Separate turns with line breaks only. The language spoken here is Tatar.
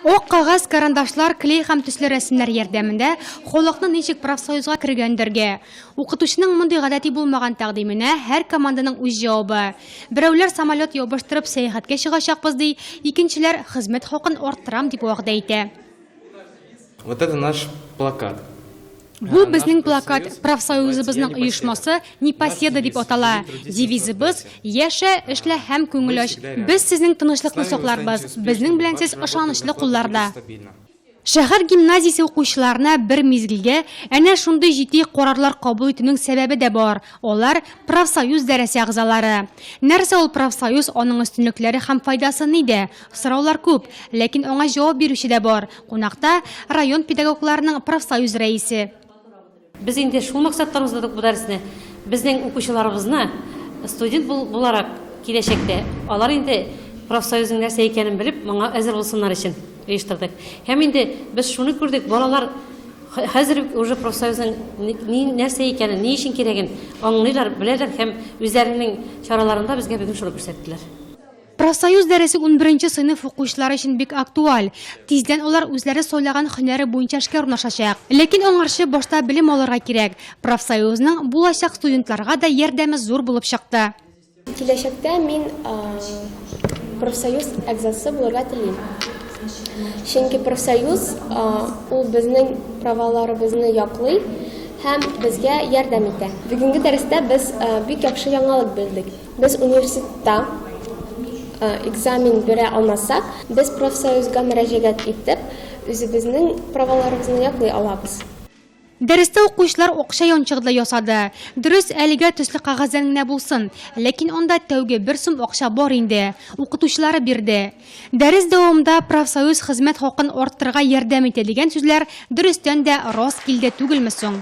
Ук кагаз, карандашлар, клей һәм төсле рәсемнәр ярдәмендә халыкны ничек профсоюзга кергәндергә? Укытучының мондый гадәти булмаган тәкъдименә һәр команданың үз җавабы. Берәүләр самолет ябыштырып сәяхәткә чыгачакбыз ди, икенчеләр хезмәт хакын арттырам дип вәгъдә итә.
Вот это наш плакат. Бу
безнең плакат профсоюзыбызның оешмасы Непоседа дип атала. Девизыбыз Яшә, эшлә һәм күңел ач. Без сезнең тынычлыкны сакларбыз. Безнең белән сез ышанычлы кулларда. Шәһәр гимназиясе укучыларына бер мизгелгә әнә шундый җитди карарлар кабул итүнең сәбәбе дә бар, алар, профсоюз дәрәсе әгъзалары. Нәрсә ул профсоюз, аның өстенлекләре һәм файдасы нидә? Сораулар күп, ләкин аңа җавап бирүче дә бар, Кунакта район педагогларының профсоюз рәисе. Без
инде шул максаттан уздырдык бу дәресне. Безнең укучыларыбызны студент буларак киләчәктә алар инде профсоюзның нәрсә икәнен белеп, моңа әзер булсыннар өчен оештырдык. Һәм инде без шуны күрдек, балалар хәзер үк уже профсоюзның нәрсә икәнен, ни өчен кирәген аңлыйлар, беләләр һәм үзләренең чараларында безгә бүген шуны күрсәттеләр. Профсоюз
дәресе унберенче сыйныф укучылары өчен бик актуаль. Тиздән алар үзләре сайлаган һөнәре буенча эшкә урнашачак. Ләкин аңарчы башта белем алырга кирәк. Профсоюзның булачак студентларга да ярдәме зур булып чыкты. Киләчәктә
мин профсоюз әгъзасы булырга телим. Чөнки профсоюз ул безнең праваларыбызны яклый һәм безгә ярдәм итә. Бүгенге дәрестә без бик яхшы яңалык белдек. Без университетта экзамен бирә алмасак, без профсоюзга мөрәҗәгать итеп, үзебезнең праваларыбызны яклый алабыз. Дәрестә
укучылар акча янчыгы да ясады. Дөрес, әлегә төсле кәгазьдән генә булсын, ләкин анда тәүге бер сум акча бар инде, укытучылары бирде. Дәрес дәвамында профсоюз хезмәт хакын арттырырга ярдәм итә дигән сүзләр дөрестән дә рас килде түгелме соң?